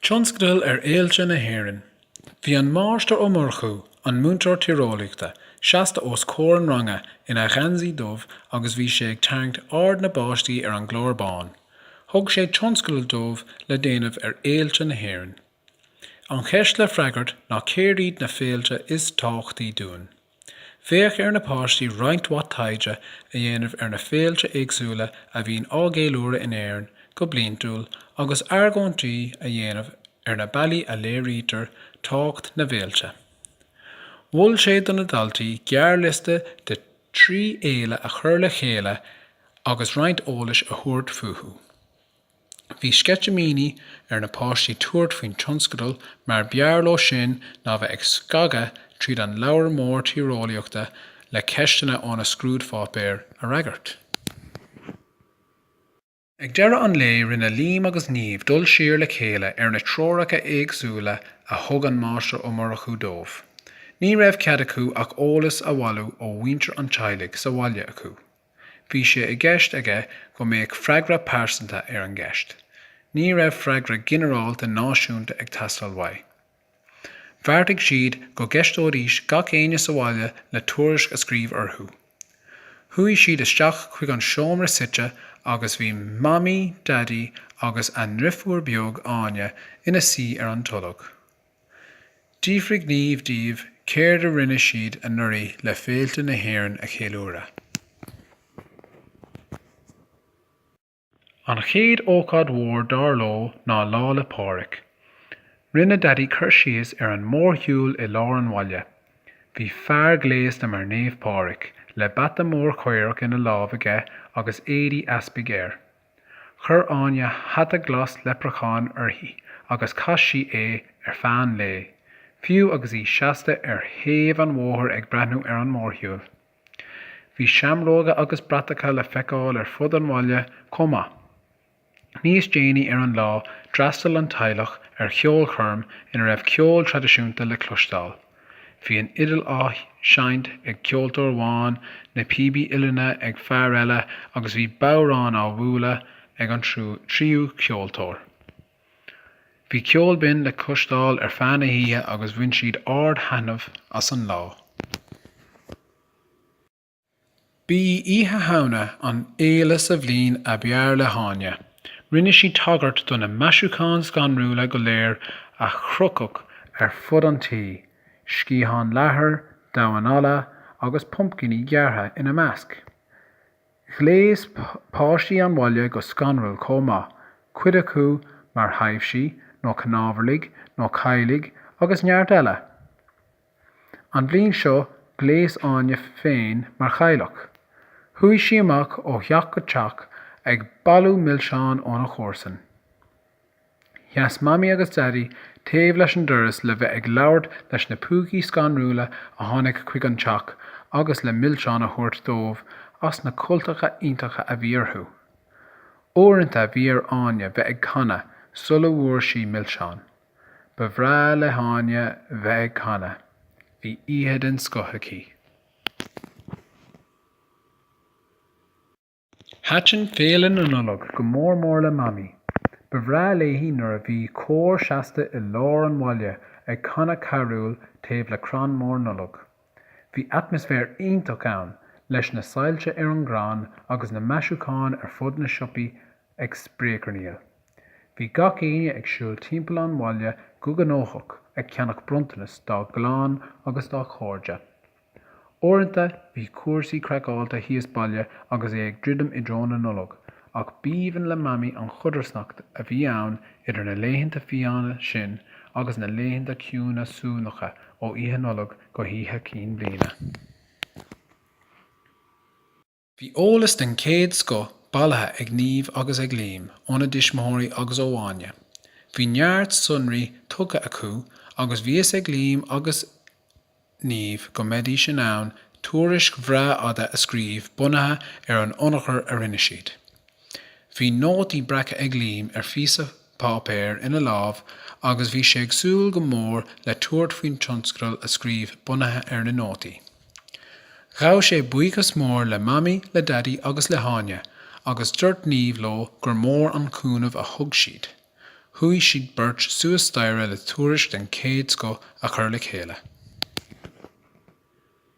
Tionscadal ar fhéilte na hÉireann. Bhí an Máistir Ó Murchú, an múinteoir tíreolaíochta, seasta os comhair an ranga ina gheansaí dubh agus bhí sé ag tarraingt aird na bpáistí ar an gclár bán. Thug sé tionscadal dóibh le déanamh ar fhéilte na hÉireann. An cheist le freagairt ná céard iad na féilte is tábhachtaí dúinn? Bheadh ar na páistí roinnt mhaith taighde a dhéanamh ar na féilte éagsúla a bhíonn á gceiliúradh in Éirinn go bliantúil agus argóintí a dhéanamh ar na bealaí a léirítear tábhacht na bhféilte. Mhol sé do na daltaí gearrliosta de thrí fhéile a chur le chéile agus roinnt eolais a thabhairt fúthu. Bhí sceitimíní ar na páistí tabhairt faoin tionscadal mar b'fhearr leo sin ná bheith ag scagadh tríd an leabhar mór tíreolaíochta le ceisteanna ó na scrúdpháipéir a fhreagairt. Ag deireadh an lae rinne Liam agus Niamh dul siar le chéile ar na treoracha éagsúla a thug an Máistir Ó Murchú dóibh. Ní raibh cead acu ach eolas a bhailiú ó mhuintir an teaghlaigh sa bhaile acu. Bhí sé i gceist aige go mbeadh freagra pearsanta ar an gceist. Ní raibh freagra ginearálta náisiúnta ag teastáil uaidh. Bheartaigh siad go gceisteoidís gach éinne sa bhaile le tuairisc a scríobh orthu. Chuaigh siad isteach chuig an seomra suite agus bhí Mamaí, Daidí agus a ndrifiúr beag, Áine, ina suí ar an tolg. D'fhiafraigh Niamh díobh céard a rinne siad anuraidh le féilte na hÉireann a cheiliúradh. An chéad ócáid mhór dar leo ná Lá 'le Pádraig. Rinne Daidí cur síos ar an mórshiúl i lár an bhaile. Bhí fear gléasta mar Naomh Pádraig, le bata mór caorach ina lámh aige agus éadaí easpaig air. Chuir Áine hata glas leipreacháin uirthi agus chaith sí é ar feadh an lae, fiú agus í seasta ar thaobh an bhóthair ag breathnú ar an mórshiúl. Bhí seamróga agus bratacha le feiceáil ar fud an bhaile chomh maith. Níos déanaí ar an lá, d'fhreastail an teaghlach ar cheolchoirm ina raibh ceol traidisiúnta le cloisteáil. Bhí an fhidil á seinnt ag ceoltóir amháin, na píbí uillinne ag fear eile agus bhí bodhrán á bhualadh ag an tríú ceoltóir. Bhí ceol binn le cloisteáil ar feadh na hoíche agus bhain siad ard-thaitneamh as an lá. B'í Oíche Shamhna an fhéile sa bhliain ab fhearr le hÁine. Rinne sí tagairt do na maisiúcháin scanrúla go léir a chrochadh ar fud an tí, sciatháin leathair, damhain alla agus pumpcainí gearrtha ina measc. Ghléas páistí an bhaile go scanrúil chomh maith, cuid acu mar thaibhsí nó cnámharlaigh nó cailligh agus neart eile! An bhliain seo, ghléas Áine féin mar chailleach. Chuaigh sí amach ó theach go teach ag bailiú milseán óna comharsain. Sheas Mamaí agus Daidí taobh leis an doras le bheith ag labhairt leis na púcaí scanrúla a tháinig chuig an teach agus le milseáin a thabhairt dóibh as na cultacha iontacha a bhí orthu. Uaireanta bhí ar Áine bheith ag canadh sula bhfuair sí milseán. Ba bhreá le hÁine bheith ag canadh, bhí oíche den scoth aici. Thaitin Féile na Nollag go mór mór le Mamaí. Ba bhreá léi nuair a bhí cór seasta i lár an bhaile ag canadh carúl taobh le crann mór Nollag. Bhí atmaisféar iontach ann, leis na soilse ar an gcrann agus na maisiúcháin ar fud na siopaí ag spréacharnaíl. Bhí gach éinne ag siúl timpeall an bhaile go gnóthach ag ceannach bronntanas dá gclann agus dá chairde. Uaireanta bhí cúrsaí craiceáilte thíos baile agus é ag druidim i dtreo na Nollag, Ach b'aoibhinn le Mamaí an chodarsnacht a bhí ann idir na laethanta fiáine sin agus na laethanta ciúine suanacha ó Oíche Nollag go hOíche Chinn Bhliana. Bhí eolas den chéad scoth bailithe ag Niamh agus ag Liam óna dtuismitheoirí agus ó Áine. Bhí neart sonraí tugtha acu agus bhí fhios ag Liam agus Niamh, go mbeidís in ann tuairisc bhreá fhada a scríobh bunaithe ar an ionchur a rinne siad. Bhí nótaí breactha ag Liam ar phíosa páipéir ina lámh agus bhí sé ag súil go mór le tabhairt faoin tionscadal a scríobh bunaithe ar na nótaí. Ghabh sé buíochas mór le Mamaí, le Daidí agus le hÁine agus dúirt Niamh leo gur mór an cúnamh a thug siad. Chuaigh siad beirt suas staighre le tuairisc den chéad scoth a chur le chéile.